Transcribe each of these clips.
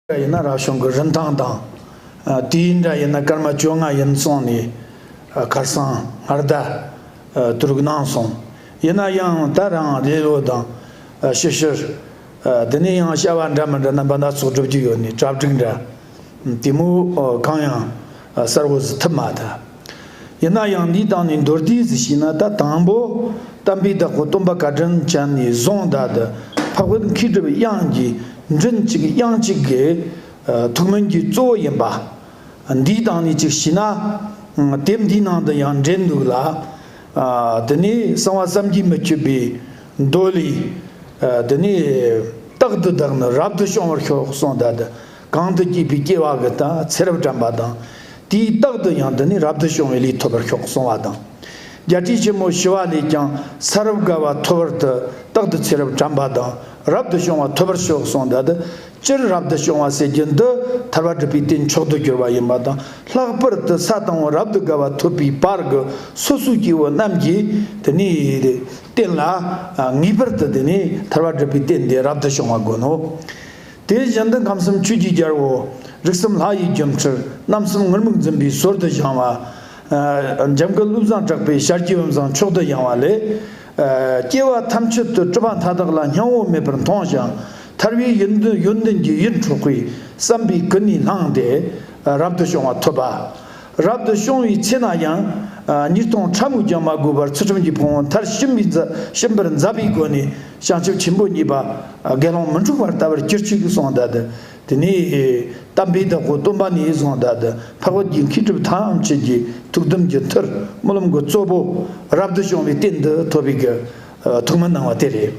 འདྲ་ཡིན་ན་རག་གཞུང་གི་རིན་ཐང་དང། དེའི་འདྲ་ཡིན་ན་སྐར་མ་བཅོ་ལྔ་ཡིན་གསུངས་ནས། ཁར་སང་སྔར་བརྡ་དྲུག་གནང་སོང། ཡིན་ན་ཡང་ད་རང་ལེ་ལོ་དང། ཞིབ་བཤེར། དེ་ནས་ཡང་བཤད་བ་འདྲ་མི་འདྲ་རྣམ་པ་སྣ་ཚོགས་སྒྲུབ་ཀྱི་ཡོད་ནི་གྲ་བསྒྲིགས་འདྲ། དེ་མུར་གང་ཡང། གསར་བུ་བཟི་ཐབས་མ་མཐའ། ཡིན་ན་ཡང་འདིའི་སྟེང་ནས་མདོར་བསྡུས་སུ་ཕྱིན་ན་ད་དང་པོ་གཏམ་དཔེའི་བདག་པོ་སྟོན་པ་བཀའ་དྲིན་ཅན་ནས་བཟུང་བདག་ལྟ་འཕགས་བོད་མཁས་གྲུབ་དབྱངས་ཀྱི་མགྲིན་གཅིག་དབྱངས་གཅིག་གི་ཐུགས་སྨོན་གྱི་གཙོ་བོ་ཡིན་པ། འདིའི་སྟེང་ནས་ཅིག་ཞིག་ན་དེབ་འདིའི་ནང་དུ་ཡང་འདྲེན་འདུག་ལ། དེ་ནས་གསང་བ་བསམ་གྱིས་མི་ཁྱབ་པའི་མདོ་ལས། དེ་ནས་རྟག་ཏུ་བདག་ནི་རབ་ཏུ་བྱུང་བར་ཤོག་གསུང་བདག་ལྟ་གང་དུ་སྐྱེས་པའི་སྐྱེ་བ་གི་དང་ཚེ་རབས་དྲན་པ་དང། དེའི་རྟགས་དུ་ཡང་འདི་ནི་རབ་ཏུ་བྱུང་བའི་ལུས་ཐོབ་པར་ཤོག་གསུང་བ་དང། བརྒྱད་ཁྲི་ཆེན་མོ་ཞི་བ་ལས་ཀྱང་ཚེ་རབས་དགའ་བ་ཐོབ་བར་དུ་རྟག་ཏུ་ཚེ་རབས་དྲན་པ་དང་རབ་ཏུ་བྱུང་བ་ཐོབ་པར་ཤོག་གསུང་འདི་དག་སྤྱིར་རབ་ཏུ་བྱུང་བ་ཟེར་རྒྱུ་འདི་ཐར་བ་སྒྲུབ་པའི་རྟེན་མཆོག་ཏུ་གྱུར་པ་ཡིན་པ་དང་ལྷག་པར་དུ་ས་དང་བོ་རབ་ཏུ་དགའ་བ་ཐོབ་པའི་བར་གྱི་སོ་སོའི་སྐྱེ་བོ་རྣམས་ཀྱིས་དེ་ནི་རྟེན་ལ་ངེས་པར་དུ་དེ་ནི་ཐར་བ་སྒྲུབ་པའི་རྟེན་དེ་རབ་ཏུ་བྱུང་བ་དགོས་ནོ། དེའི་གཞན་དོན་ཁམས་གསུམ་ཆོས་ཀྱིས་སྦྱར་བའོ། རིགས་གསུམ་ལྷ་ཡི་རྒྱུ་འཕྲུལ་རྣམ་གསུམ་ངུར་སྨུག་འཛིན་པའི་ཟོར་དུ་བཞེངས་བ། འཇམ་སྐུ་བློ་བཟང་གྲགས་པའི་ཞལ་གྱི་འོད་མཛངས་མཆོག་ཏུ་ཡངས་བ་ལས། སྐྱེ་བ་ཐམས་ཅད་དུ་སྤྲུལ་པ་མཐའ་དག་ལ་སྙིང་བོ་མེད་པར་མཐོང་ཞིང་ཐར་བའི་ཡོན་ཏན་གྱི་ཡིད་འཕྲོག་པའི་བསམ་པའི་སྐུ་ནི་ལྷང་སྟེ་རབ་ཏུ་བྱུང་བ་ཐོབ་པ། རབ་ཏུ་བྱུང་བའི་ཚེ་ན་ཡང། ཉིས་སྟོང་ཕྲ་མོའི་རྒྱང་མ་དགོས་པར་ཚུལ་ཁྲིམས་ཀྱི་ཕུང་བོ་མཐར་ཕྱིན་པའི་ཕྱིན་པར་མཛད་པའི་སྒོ་ནས་བྱང་ཆུབ་ཆེན་པོ་གཉིས་པ་དགེ་སློང་མི་འཁྲུགས་པར་ལྟ་བར་གྱུར་ཅིག་གསུང་བཟླས་ཏེ། དེ་ནས་བལྟམས་པའི་བདག་པོ་སྟོན་པ་ནས་གསུང་བཟླས་ཏེ་འཕགས་བོད་ཀྱི་མཁས་གྲུབ་ཐམས་ཅད་ཀྱི་ཐུགས་དམ་གྱི་མཐུར་སྨོན་ལམ་གྱི་གཙོ་བོ་རབ་ཏུ་བྱུང་བའི་རྟེན་འདི་ཐོབ་པའི་གི་ཐུགས་མི་སྣང་བ་དེ་རེད།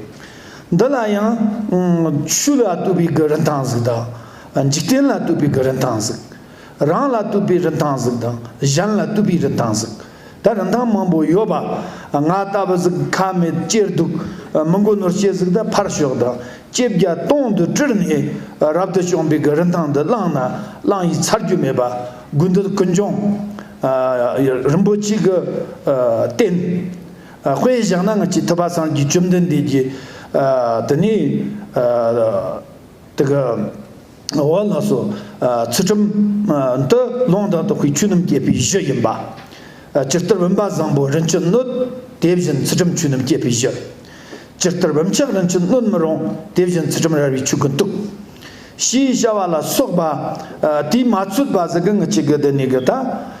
འདི་ལ་ཡང། ཆོས་ལ་བཏུད་པའི་གི་རིན་ཐང་གཟིགས་དང། འཇིག་རྟེན་ལ་བཏུད་པའི་གི་རིན་ཐང་གཟིགས། རང་ལ་བཏུད་པའི་རིན་ཐང་གཟུགས་དང་གཞན་ལ་བཏུད་པའི་རིན་ཐང་གཟུགས་ད་རིན་ཐང་མང་པོ་ཡོད་པ། ང་ལྟ་བུ་གཟུགས་ཁ་མེད་སྐྱེས་སྡུག་མི་མགོ་ནོར་སྐྱེས་གཟུགས་ད་ཕར་ཞོག་དང་སྐྱེས་བརྒྱ་སྟོང་དུ་བཀྲུར་ནས་རབ་ཏུ་བྱུང་བའི་གི་རིན་ཐང་འདི་བླངས་ན་བླངས་ཡིས་ཚར་རྒྱུ་མེད་པ་དགོས་འདོད་ཀུན་འབྱུང། རིན་པོ་ཆེ་གི་རྟེན་དཔེ་བཞག་ན་ང་ཅི་ཐུབ་པ་སངས་རྒྱས་བཅོམ་ལྡན་འདས་ཀྱིས་དེ་ནས། དེ་གའི་འོག་ལ་སོ། ཚུལ་ཁྲིམས། འདི་ལོང་དང་དོ་ཁུའི་ཆུ་སྣུམ་སྐྱེས་པའི་གཞི་ཡིན་པ། སྤྱིར་གཏེར་བུམ་པ་བཟང་པོ་རིན་ཆེན་སྣོད། དེ་བཞིན་ཚུལ་ཁྲིམས་ཆུ་སྣུམ་སྐྱེས་པའི་གཞི། སྤྱིར་གཏེར་བུམ་ཆགས་རིན་ཆེན་སྣོད་མི་རུང། དེ་བཞིན་ཚུལ་ཁྲིམས་རལ་བའི་ཆུ་ཀུན་གཏུག། ཞེས་བྱ་བ་ལ་སོགས་པ། དེས་མ་ཚུད་པ་ཟེར་གི་ངི་ཆི་གི་དེ་ནི་གི་ད།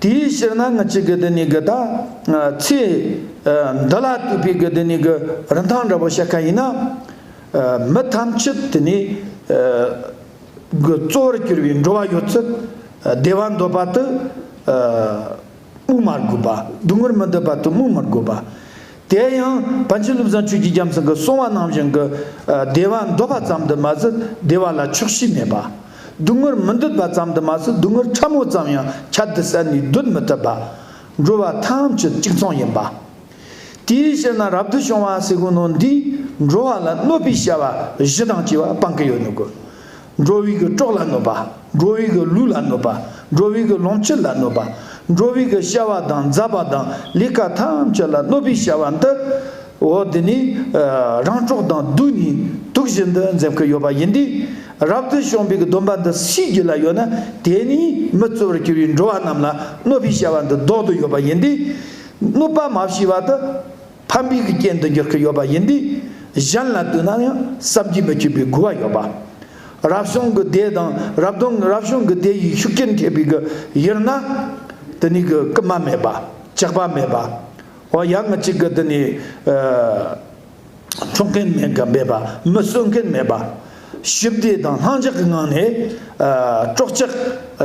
དེའི་ཕྱིར་ན་ངེད་ཅིག་གི་དེ་ནས་གི་དང། ཚེ་འདི་ལ་ལྟོས་པའི་གི་དེ་ནས་གི་རིན་ཐང་འདྲ་བོ་བཤད་མཁན་ཡིན་ན། མི་ཐམས་ཅད་དེ་ནས་གི་གཙོ་བོར་གྱུར་པའི་འགྲོ་བ་ཡོད་ཚད་བདེ་བ་འདོད་པ་དུ་སྨུག་མ་དགོས་པ་སྡུག་བསྔལ་མི་འདོད་པ་དུ་སྨུག་མི་དགོས་པ། དེ་ཡང་བན་ཆེན་བློ་བཟང་ཆོས་ཀྱི་རྒྱལ་མཚན་གྱི་གསུང་བ་ནང་བཞིན་གྱི་བདེ་བ་འདོད་པ་ཙམ་དུ་མ་ཟད་བདེ་བ་ལ་ཆོག་ཤེས་མེད་པ། སྡུག་བསྔལ་མི་འདོད་པ་ཙམ་དུ་མ་ཟད་སྡུག་བསྔལ་ཕྲ་མོ་ཙམ་ཡང་ཁྱབ་གདལ་བསལ་ནས་སྡོད་མི་ཐུབ་པ། འགྲོ་བ་ཐམས་ཅད་གཅིག་མཚུངས་ཡིན་པ། དེའི་ཕྱིར་ན་རབ་ཏུ་བྱུང་བ་སེ་གོལ་ནོར་འདིས་འགྲོ་བ་ལ་གནོད་པའི་བྱ་བ་བཞི་དང་བཅས་པ་སྤང་གི་ཡོད་ནི་གོ། འགྲོ་བའི་གི་གྲོགས་ལ་གནོད་པ། འགྲོ་བའི་གི་ལུས་ལ་གནོད་པ། འགྲོ་བའི་གི་ལོངས་སྤྱོད་ལ་གནོད་པ། འགྲོ་བའི་གི་བྱ་བ་དང་མཛའ་བ་དང་ལས་ཀ་ཐམས་ཅད་ལ་གནོད་པའི་བྱ་བ་འདི། འོ་དེ་ནས་རང་གྲོགས་དང་བསྡུས་ནས་དུག་བཞི་འདི་འཛེམ་གི་ཡོད་པ་ཡིན་ཏེ། རབ་ཏུ་བྱུང་བའི་གི་སྡོམ་པ་འདི་ཕྱིས་རྒྱུད་ལ་ཡོད་ན་དེས་ནི་མི་གཙོ་བར་གྱུར་བའི་འགྲོ་བ་རྣམས་ལ་གནོད་པའི་བྱ་བ་འདི་བཟློག་ཏུ་ཡོད་པ་ཡིན་ཏེ། གནོད་པ་མ་བྱས་པ་དུ། ཕ་མི་གི་རྐྱེན་དུ་འགྱུར་གྱི་ཡོད་པ་ཡིན་དུས་གཞན་ལ་ལྟོས་ན་ཡང་བསམ་གྱིས་མི་ཁྱབ་པའི་དགོས་པ་ཡོད་པ། རབ་བྱུང་གི་སྡེ་དང་རབ་དང་རབ་བྱུང་གི་སྡེ་ཡི་ཤུགས་རྐྱེན་ཐེབས་པའི་གི་ཡུལ་ན། དེ་ནི་གི་རྐུན་མ་མེད་པ་ཅག་པ་མེད་པ། འོ་ཡ་ང་གཅིག་གི་དེ་ནི། འཕྲོག་མཁན་མེད་གི་མེད་པ་མི་གསོད་མཁན་མེད་པ། ཞི་བདེ་དང་ལྷང་འཇགས་ཀྱི་ངང་ནས་སྤྲོ་སྐྱིད།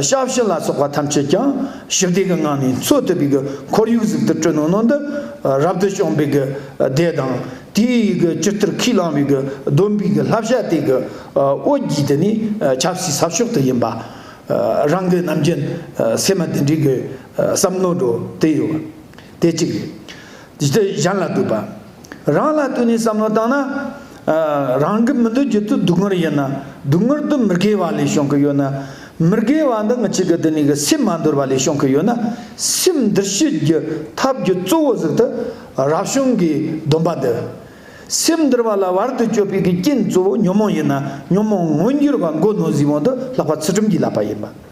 ཞབས་ཕྱི་ལ་སོགས་པ་ཐམས་ཅད་ཀྱང་ཞི་བདེ་གི་ངང་ནས་འཚོ་ཐུབ་པའི་ཁོར་ཡུག་ཟུར་དུ་བསྐྲུན་གནང་གནང་འདི་རབ་ཏུ་བྱུང་བའི་བརྡས་དང་དེའི་སྤྱིར་ཐུར་ཁེས་བླངས་པའི་བསྡོམས་པས་བསླབ་བྱ་དེ་གི་འོད་བརྒྱས་དེ་ནི་ཆབ་སྲིད་ཟབ་ཤོག་ཏུ་ཡིན་པ་རང་གི་ནམ་རྒྱུན་སེམས་མ་དེ་འདྲའི་བསམ་མནོ་འགྲོ་དེ་ཡོད་དེ་གཅིག་རེད། གཞན་ལ་ལྟོས་པ། རང་ལ་དུས་ནས་བསམ་བློ་བཏང་ན། རང་གི་མི་འདོད་རྒྱུ་དུ་སྡུག་བསྔལ་ཡོད་ན། སྡུག་བསྔལ་དུ་མི་དགེ་བ་ལས་བྱུང་གི་ཡོད་ན། མི་དགེ་བ་འདི་ངི་ཆི་གི་དུ་ནས་གི་སེམས་མ་འདོར་བ་ལས་བྱུང་གི་ཡོད་ན། སེམས་འདིར་བྱེད་རྒྱུ་ཐབས་རྒྱུ་གཙོ་བོ་ཟིག་དུ་རབ་བྱུང་གི་སྡོམ་པ་འདི། སེམས་འདིར་བ་ལ་བར་དུ་གཅོད་པའི་གི་རྐྱེན་གཙོ་བོ་ཉོན་མོངས་ཡིན་ན་ཉོན་མོངས་མངོན་འགྱུར་བ་མགོ་ནོར་གཟིགས་དབང་དུ་ལྷག་པ་ཚུལ་ཁྲིམས་ཀྱིས་བསླབ་པ་ཡིན་པ།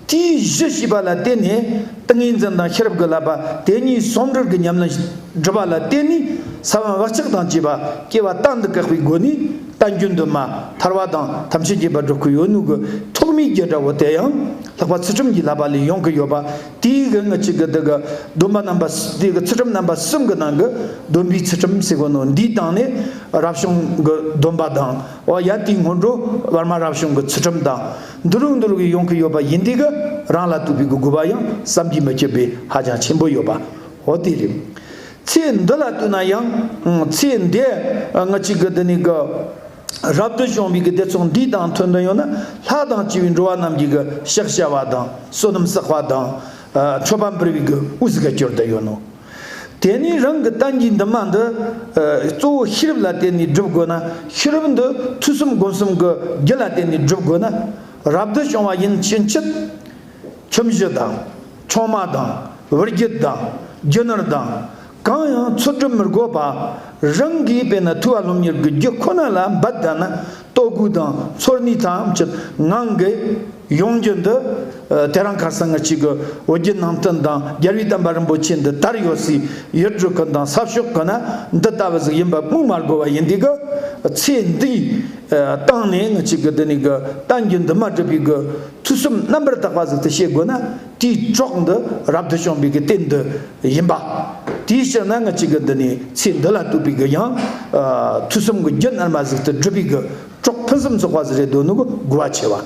དེའི་གཞི་བྱིས་པ་ལ་བརྟེན་ནས་ཏིང་ངེ་འཛིན་དང་ཤེས་རབ་ཀྱི་བསླབ་པ་དེ་གཉིས་ཟུང་འབྲེལ་གྱི་ཉམས་ལེན་སྒྲུབ་པ་ལ་བརྟེན་ནས་ས་བོན་བ་ལྕགས་དང་བཅས་པ་སྐྱེ་བ་རྟག་འདི་བཀག་པའི་སྒོ་ནས་རྟ་རྒྱུན་དུ་མ་ཐར་བ་དང་ཐམས་ཅད་རྒྱས་པར་འགྲོ་ཁུལ་ཡོད་ནུས་ཀྱི་ཐོག་མའི་རྒྱུ་འདྲ་བོ་དེ་ཡང་ལྷག་པ་ཚུལ་ཁྲིམས་ཀྱི་བསླབ་པ་ལས་ཡོང་གི་ཡོད་པ་དེའི་གེགས་ངེས་གཅིག་གི་དེ་གི་སྡོམ་པ་རྣམ་པ་དེ་གི་ཚུལ་ཁྲིམས་རྣམ་པ་གསུམ་གྱི་ནང་གི་སྡོམ་པའི་ཚུལ་ཁྲིམས་སེ་གོ་ནོ་འདིའི་སྟེང་ནས་རབ་བྱུང་གི་སྡོམ་པ་དང་ཡ་དེའི་སྔོན་འགྲོ་བར་མ་རབ་བྱུང་གི་ཚུལ་ཁྲིམས་དང། འདུ་ལུགས་འདུ་ལུགས་ཀྱི་ཡོང་གི་ཡོད་པ་ཡིན་འདི་ག་རང་ལ་ཐུག་པའི་གུ་གུ་བ་ཡང་བསམ་གྱིས་མི་ཁྱབ་པའི་ཧ་ཅང་ཆེན་པོ་ཡོད་པ་འོ་དེ་རེད། ཚེ་འདི་ལ་ལྟོས་ན་ཡང་ཚེ་འདས་ང་གཅིག་གི་འདི་ནས་གི་རབ་ཏུ་བྱུང་བའི་གི་བདེ་ཚོགས་འདི་དང་མཐུན་འདི་ཡོད་ན་ལྷ་དང་བཅས་པའི་འགྲོ་བ་རྣམས་ཀྱི་གི་ཤག་བྱ་བ་དང་བསོད་ནམས་བསགས་པ་དང་མཆོད་པ་འབུལ་བའི་གི་དབུ་ཟི་ག་སྐྱོར་འདི་ཡོད་ནོ། དེ་ནས་རང་གི་གཏམ་གྱི་འདུན་མ་འདི་གཙོ་བོ་ཤེས་རབ་ལ་བརྟེན་ནས་བསྒྲུབ་དགོས་ན་ཤེས་རབ་འདི་ཐོས་གསུམ་སྒོམ་གསུམ་གྱི་རྒྱུ་ལ་བརྟེན་ནས་བསྒྲུབ་དགོས་ན་རབ་ཏུ་བྱུང་བ་ཡིན་ཕྱིན་ཆད། ཁྱིམ་གཞི་དང། ཆུང་མ་དང། བུ་རྒྱུད་དང། རྒྱུ་ནོར་དང། གང་ཡང་འཚོལ་སྒྲུབ་མི་དགོས་པར་རང་གིས་དཔེར་ན་ཐུ་བ་ལྷོམ་གཉེར་གྱི་རྒྱུ་ཁོ་ན་ལ་འབད་ད་ན། ལྟོ་གོས་དང་ཚོར་ནུས་ཐམས་ཅད་ངང་གིས་ཡོང་རྒྱུ་འདི་དེ་རང་ག་ས་ང་གཅིག་གི་འོད་བརྒྱུད་ནང་བསྟན་དང་རྒྱལ་བའི་བསྟན་པ་རིན་པོ་ཆེ་འདི་དར་ཡོད་སའི་ཡུལ་གྲུ་ཁག་དང་ས་ཕྱོགས་ཁག་ན་འདི་ལྟ་བུ་ཟིག་ཡིན་པ་སྨོས་མ་དགོས་པ་ཡིན་དུས་ཀྱི་ཚེ་འདིའི་སྟེང་ནས་ང་གཅིག་གིས་འདི་ནས་གི་བསྟན་རྒྱུད་འདི་མ་བསྒྲུབས་པའི་གི་ཚུལ་གསུམ་རྣམ་པར་དག་པ་ཟིག་དེ་ཤེས་དགོས་ན། དེའི་གྲོགས་འདི་རབ་ཏུ་བྱུང་བའི་གི་དེ་འདི་ཡིན་པ། དེའི་ཕྱིར་ན་ང་གཅིག་གི་འདི་ནི་ཚེ་འདི་ལ་ལྟོས་པའི་གི་ཡང། དུས་གསུམ་གྱི་རྒྱུད་རྣལ་མ་གཟིགས་ཏེ་བསྒྲུབ་པའི་གི་གྲོགས་ཕུན་སུམ་ཚོགས་པ་ཟེར་བའི་དོན་ནི་དགུ་བ་ཕྱེ་བ།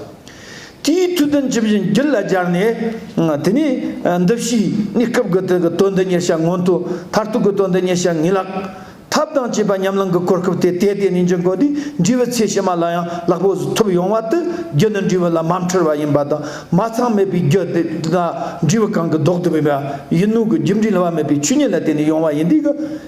དེའི་མཐུས་དོན་ཇི་བཞིན་རྒྱུད་ལ་སྦྱར་ནས། དེ་ནས་འདི་བཞིའི་གནས་སྐབས་ཀྱི་དོན་འདི་ཉེར་བྱ་སྔོན་དུ་མཐར་ཐུག་གི་དོན་འདི་ཉེར་བྱ་ངེས་ལགས། ཐབས་དང་བཅས་པ་ཉམས་བླངས་ཀྱི་གོ་སྐབས་དེ་དལ་དལ་ནི་འབྱུང་དགོས་ཏེ་འབྲས་བུ་ཚད་ཕྱི་མ་ལ་ཡང་ལག་པོ་གཟུགས་ཐོབ་ཡོང་བ་དུ་རྒྱུ་ནི་འབྲས་བུ་ལ་མ་འཁྲུལ་བ་ཡིན་པ་དང་མ་ཚང་མེད་པའི་རྒྱུ་དེ་དག་འབྲས་བུ་གང་གི་ལྡོག་ཏུ་མེད་པ་ཡིན་ནོ་གི་རྒྱུ་འབྲས་ལ་བ་མེད་པའི་ཆོས་ཉིད་ལ་བརྟེན་ནས་ཡོང་བ་ཡིན་དུས་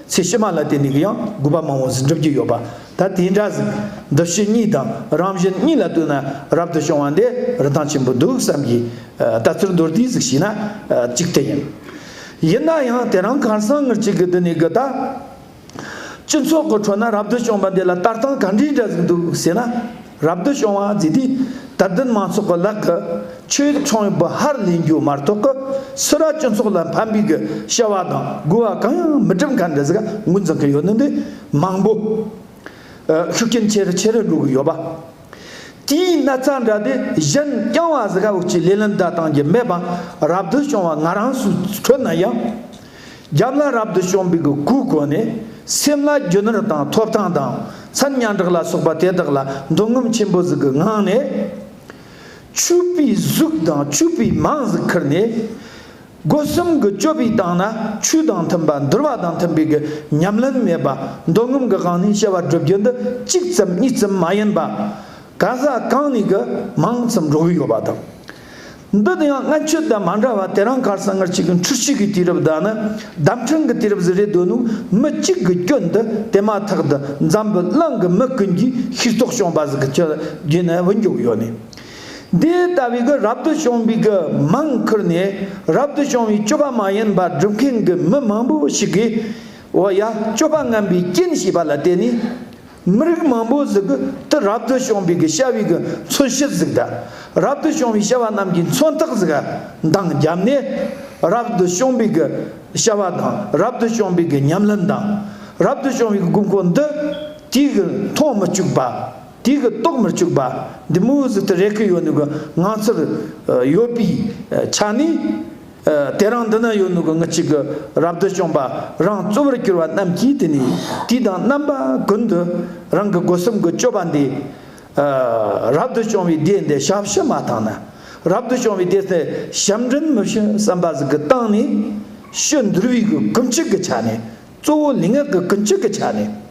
ཀྱི་ཚད་ཕྱི་མ་ལ་བརྟེན་ནས་ཀྱི་ཡང་དགོས་པ་མང་བོ་ཟིན་གྲུབ་ཀྱི་ཡོད་པ་ད་དེ་འདྲ་ཟིན་འདུ་ཤེས་གཉིས་དང་རང་བཞིན་གཉིས་ལ་ལྟོས་ན་རབ་ཏུ་བྱུང་བ་འདི་རིན་ཐང་ཆེན་པོ་འདུག་བསམ་གྱི། ད་ཚུར་མདོར་བསྡུས་གཟིགས་ཤིག་ན། གཅིག་དེ་ཡིན། ཡིན་ན་ཡང་དེ་རང་གང་སང་ངེར་བྱེད་གི་འདི་ནི་གི་ད། སྤྱི་ཚོགས་ཀི་ཁྲོད་ན་རབ་ཏུ་བྱུང་བ་འདི་ལ་ལྟ་སྟངས་ག་འདྲིའི་འདྲ་ཟིག་འདུག་ཟེར་ན། རབ་ཏུ་བྱུང་བ་ཟེར་དུས་དད་ལྡན་མང་ཚོགས་ཀི་ལག་གི་ཆོས་ཚོང་ཡོད་པི་ཧར་ལེན་རྒྱུ་མ་གཏོགས་ཀི་སུ་ར་སྤྱི་ཚོགས་ལ་ཕན་པའི་གི་བྱ་བ་དང་དགོས་བ་གང་ཡང་མི་སྒྲུབ་མཁན་འདྲ་ཟིག་ངོས་འཛིན་གི་ཡོད་ནི་འདི་མང་པོ་ཤུགས་རྐྱེན་ཆེ་རུ་ཆེ་རུ་འགྲོ་གི་ཡོད་པ། དེའི་ན་ཚ་འདྲ་དེ་གཞན་རྐྱང་བ་ཟི་ཁ་འུག་ཅིག་ལས་ལན་བདའ་དང་གྱི་མེད་པ་རབ་ཏུ་བྱུང་བ་ང་རང་སུ་ཁྲོད་ན་ཡང་རྒྱབ་ན་རབ་ཏུ་བྱུང་བའི་གི་གུ་གོ་ནས་སེམས་ལ་རྒྱུ་ནོར་དང་ཐོབ་ཐང་དང་མཚན་ཉང་གྲགས་ལ་སོགས་པ་དེ་དག་ལ་འདུ་ངོམ་ཆེན་པོ་ཟི་གི་ངང་ནས་ཆུ་བུའི་གཟུགས་དང་ཆུ་བུའི་མང་ཟི་ཁར་ནས། སྒོ་གསུམ་གྱི་སྤྱོད་པའི་སྟེང་ན་ཆོས་དང་མཐུན་པ་འདུལ་བ་དང་མཐུན་པའི་ཉམས་ལེན་མེད་པ་མདོ་སྔོན་གྱི་གང་ནས་བཤད་པ་བསྒྲུབ་རྒྱུ་འདི་གཅིག་ཙམ་གཉིས་ཙམ་མ་ཡིན་པ། ག་ས་གང་ནས་ཀྱི་མང་ཙམ་འགྲོ་གི་ཡོད་པ་དང། འདི་དེ་ཡང་སྔ་ཁྱོད་དང་མ་འདྲ་བ་དེ་རང་གར་ས་ངར་ཅིག་གི་འཁྲུལ་ཤུལ་གྱི་དུས་རབས་དག་ནི་གདམས་ཕྲན་གྱི་དུས་རབས་སུ་རེད་འདོད་ནུ་མི་གཅིག་གི་སྐྱོན་འདི་དེ་མ་ཐག་ཏུ་འཛམ་བུ་གླིང་གི་མི་ཀུན་གྱིས་ཤེས་རྟོགས་བྱུང་བ་ཟིག་གི་ཁྱོད་རྒྱུད་ནས་འུ་མགྱོགས་ཡོད་ནས། འདི་ལྟ་བུའི་གུ་རབ་ཏུ་བྱུང་བའི་གུ་མང་ཁུར་ནས་རབ་ཏུ་བྱུང་བའི་སྤྱོད་པ་མ་ཡིན་པ་སྒྲུབ་མཁན་གྱི་མི་མང་པོ་ཞིག་གིས་འོ་ཡ་སྤྱོད་པ་རྔམ་པའི་རྐྱེན་བྱས་པ་ལ་བརྟེན་ནས་མི་རིགས་མང་པོ་གཟུགས་གུ་དུ་རབ་ཏུ་བྱུང་བའི་གུ་ཤ་བའི་གུ་མཚོན་བྱེད་གཟུགས་དུ་རབ་ཏུ་བྱུང་བའི་ཤ་བ་རྣམས་ཀྱི་མཚོན་རྟགས་གཟུགས་གུ་མདངས་བརྒྱབ་ནས་རབ་ཏུ་བྱུང་བའི་གུ་ཤ་བ་དང་རབ་ཏུ་བྱུང་བའི་གུ་ཉམས་ལེན་དང་རབ་ཏུ་བྱུང་བའི་གུ་མགོ་འདི་དུས་ཀྱི་མཐོང་མི་བཅུག་པ། དེ་གི་རྟོགས་མི་བཅུག་པ་འདི་མུ་ཟི་དུ་རེ་ཁི་ཡོད་ནུ་གི་ང་ཚོར་ཡོད་པའི་ཆ་ནས་དེ་རང་འདི་ན་ཡོད་ནུ་གི་ང་གཅིག་གི་རབ་བདུད་བཅོམ་པ་རང་གཙོ་བོར་གྱུར་བ་རྣམས་ཀྱིས་དེ་ནས་དུས་དང་རྣམ་པ་ཀུན་དུ་རང་གི་སྒོ་གསུམ་གི་སྤྱོད་པ་འདི་རབ་བདུད་བཅོམ་བའི་སྡེ་འདི་ཞབས་ཕྱི་མ་དང་ན་རབ་བདུད་བཅོམ་བའི་སྡེ་སེ་ཞབས་འབྲིང་མི་ཕྱི་བསམ་པ་ཟིག་གི་སྟེང་ནས་ཕྱི་འདུར་བའི་གི་གུམ་ཆིག་གི་ཆ་ནས་གཙོ་བོ་ནི་སྔགས་ཀྱི་ཀུན་སྤྱོད་ཀྱི་ཆ་ནས།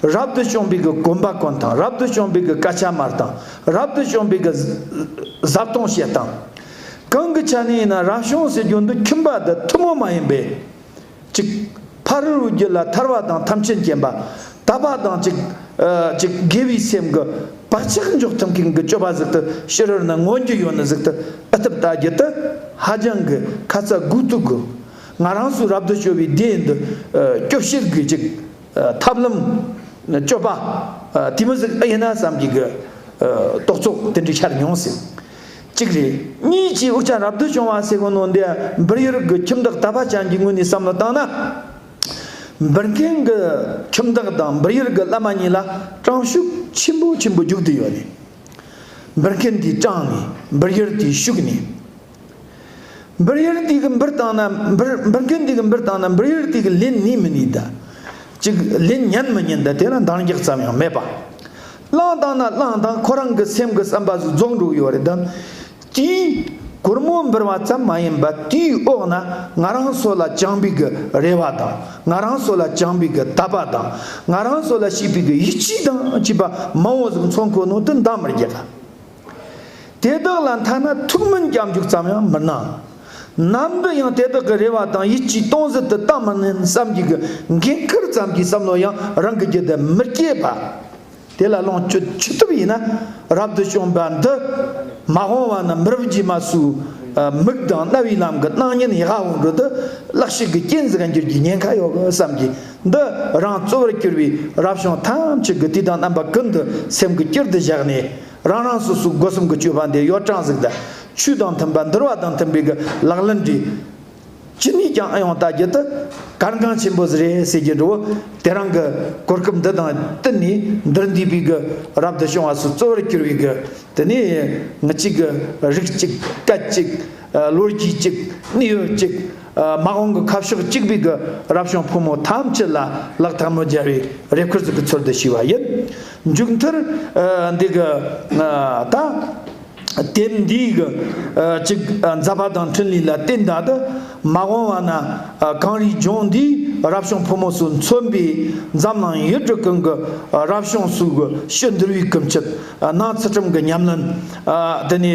རབ་ཏུ་བྱུང་བའི་གི་བསྒོམ་པ་ཀུན་དང་རབ་ཏུ་བྱུང་བའི་གི་ཀ་ཆ་མར་དང་རབ་ཏུ་བྱུང་བའི་གི། ཟབ་གཏོང་བྱེད་སྟངས། གང་གི་ཆ་ནས་ཡིན་ན་རང་བྱུང་ཟེར་རྒྱུ་འདི་ཁྱིམ་པ་འདི་ཐུན་མོང་མ་ཡིན་པས། གཅིག། ཕ་རོལ་བོའི་རྒྱུད་ལ་ཐར་བ་དང་ཐམས་ཅད་མཁྱེན་པ། དག་པ་དང་གཅིག། གཅིག་དགེ་བའི་སེམས་ཀྱི་བག་ཆགས་འཇོག་ཐུབ་མཁན་གྱི་སྤྱོད་པ་གཟིགས་དུ་ཕྱི་རོལ་ན་མངོན་རྒྱུ་ཡོད་ན་གཟིགས་དུ་ཨི་ཐུབ་ལྟ་རྒྱུ་དེ་ཧ་ཅང་གི་ཁ་ཚ་དགོས་གཏུག་གི། ང་རང་ཚོའི་རབ་ཏུ་བྱུང་བའི་སྡེ་འདི་སྐྱོབ་བཤེར་དགོས་ཅིག། ཐབས་ལམ། སྤྱོད་པ། དེ་མི་ཟིག་ཨ་ཡེ་ན་ཙམ་གྱི་གི། རྟོག་ཚོགས་དེ་འདྲ་ཤར་མྱོང་ཟིག། གཅིག་རེད། གཉིས་ཀྱིས་དབུགས་ཆ་རབ་ཏུ་བྱུང་བ་སེ་གོ་ནོ་འདི་འབུར་ཡུར་གྱི་ཁྱིམ་བདག་ད་བ་ཅན་གྱི་ངོས་ནས་བསམ་བློ་བཏང་ན། འབུར་མཁན་གྱི་ཁྱིམ་བདག་དང་འབུར་ཡུར་གྱི་བླ་མ་གཉིས་ལ་སྤྲང་ཤུགས་ཆེན་པོ་ཆེན་པོ་རྒྱུག་ཏུ་ཡོད་ནས། འབུར་མཁན་དེའི་སྤྲང་ནས་འབུར་ཡུར་དེའི་ཤུགས་ནས། འབུར་གཡེར་ཏིག་གི་འབུར་བཏང་ན་འབུར་འབུར་གཡོན་ཏིག་གི་འབུར་བཏང་ན་འབུར་གཡེར་ཏིག་གི་ལན་ནི་མི་ནུས་ད། ཅིག་ལན་ཉན་མི་ཉན་ད་དེ་ལ་འདང་རྒྱག་ཙམ་ཡང་མེད་པ། གླང་བཏང་ན་གླང་བཏང་ཁོ་རང་གི་སེམས་ཀྱི་བསམ་པ་སུ་རྫོགས་འགྲོ་གི་ཡོད་རེད་དམ་ཅི། གུར་མོ་འབུར་བ་ཙམ་མ་ཡིན་པ་དེའི་འོག་ན་ང་རང་སོ་ལ་བཅང་པི་གི་རེ་བ་དང་ང་རང་སོ་ལ་བཅང་པི་གི་དད་པ་དང་ང་རང་སོ་ལ་བྱེད་པི་གི་ཡིད་ཆེས་དང་བཅས་པ་མང་བོ་ཟིག་མཚོ་འཁོར་ནང་དུ་འདང་མི་རྒྱག་ག། དེ་དག་ལ་མཐའ་ན་ཐུགས་སྨོན་སྐྱབས་འཇུག་ཙམ་ཡང་མི་གནང། ནམ་དུ་ཡང་དེ་དག་གི་རེ་བ་དང་ཡིད་ཀྱི་སྟོང་ཟད་དུ་གཏང་མི་ནུས་བསམ་གྱི་གི་འགན་ཁུར་ཙམ་གྱི་བསམ་བློ་ཡང་རང་གི་རྒྱུད་དུ་མི་སྐྱེས་པ། དེ་ལ་ལོངས་སྤྱོད་མཆོད་ཐབས་ཡིན་ན་རབ་ཏུ་བྱུང་བ་འདི་མ་འོངས་བ་ན་མི་རབས་རྗེས་མ་སུ་མིག་དང་རྣ་བའི་ལམ་གྱི་སྣང་བརྙན་ཡེ་ཤེས་འོད་འཕྲོ་འདི་བརླག་ཤིག་གི་སྐྱེ་འཛེག་འགྱུར་གྱི་ཉེན་ཁ་ཡོད་བསམ་གྱི། འདི་རང་གཙོ་བོར་གྱུར་པའི་རབ་བྱུང་ཐམས་ཅད་ཀྱི་དུས་དང་རྣམ་པ་ཀུན་ཏུ་སེམས་ཀྱི་དཀྱིལ་དུ་བཞག་ནས་རང་རང་སོ་སོའི་སྒོ་གསུམ་གྱི་སྤྱོད་པ་འདི་གཡོ་བྲང་གཟུགས་དང་ཆོས་དང་མཐུན་པ་འདུལ་བ་དང་མཐུན་པའི་གི་ལག་ལེན་འདྲི། ཅི་ནུས་ཀྱང་ཨ་ཡང་ལྟ་རྒྱུ་དུ་གར་འགངས་ཆེན་པོ་རེད་ཟེར་གྱི་འགྲོ་བོ་དེ་རང་གི་གོ་སྐབས་འདི་དང་བསྟུན་ནས་འདིར་འདུས་པའི་གི་རབ་ཏུ་བྱུང་བ་སོ་གཙོ་བོར་གྱུར་པའི་གི་དེ་ནས་ངུ་གཅིག་རིག་གཅིག་སྐད་ཅིག་ལོ་རྒྱུས་གཅིག་གནས་ཡུལ་གཅིག། དམག་དཔུང་གི་ཁ་ཕྱོགས་གཅིག་པུས་གུ་རབ་བྱུང་ཕོ་མོ་ཐམས་ཅད་ལ་ལག་ཐལ་མོ་སྦྱར་བའི་རེ་ཁུལ་ཟིག་གི་ཚུལ་དུ་ཞུས་པ་ཡིན། མཇུག་མཐར། འདི་གུ་ད། དེབ་འདིའི་གུ་གཅིག་མཛད་པ་དང་འཕྲིན་ལས་ལ་བརྟེན་ད་དུ་མ་འོངས་བ་ན་གངས་རིའི་ལྗོངས་འདིའི་རབ་བྱུང་ཕོ་མོ་སུ་མཚོན་པའི་འཛམ་གླིང་ཡུལ་གྲུ་ཀུན་གུ་རབ་བྱུང་སུ་གུ་ཤུལ་འདུར་བའི་གུ་མཆེད་སྣང་ཚུལ་ཁྲིམས་གི་ཉམས་ལེན་དེ་ནི།